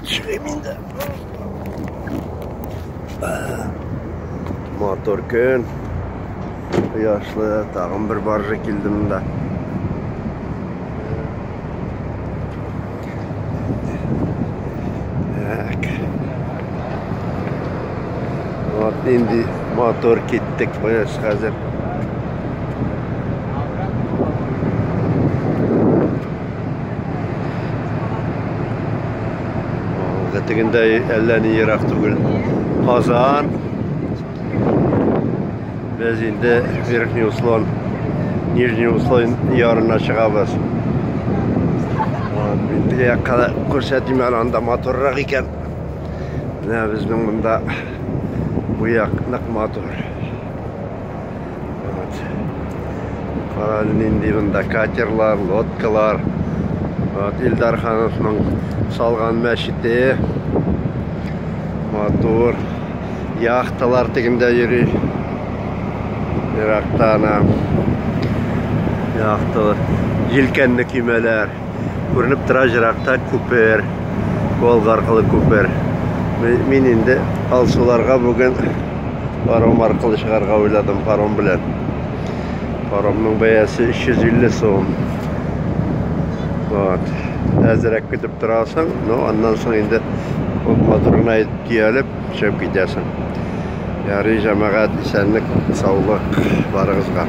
Төшерәм инде. Мотор көн. Кояшлы, тагын бер баржа килде монда. инде мотор киттек кояш хәзер Тегендә әллә ни ерак түгел. Казан. Без инде Верхний Услон, Нижний Услон ярына чыгабыз. Бу якка күрсәтим әле анда матуррак икән. Менә безнең монда бу як нык матур. Вот. Карале нинди монда катерлар, лодкалар. Вот Илдар Хановның салган мәчете. Матур. Яхталар тегендә йөри. Еракта ана яхталар, җилкәнле көймәләр. Күренеп тора җыракта күпер. Волга аркылы күпер. Мин инде алсуларга бүген паром аркылы чыгарга уйладым паром белән. Паромның бәясе 350 сум. Вот. Әзрәк көтеп торасың, но аннан соң инде ул моторына төялеп, төшеп китәсең. Ярый, җәмәгать, исәнлек, саулык барыгызга.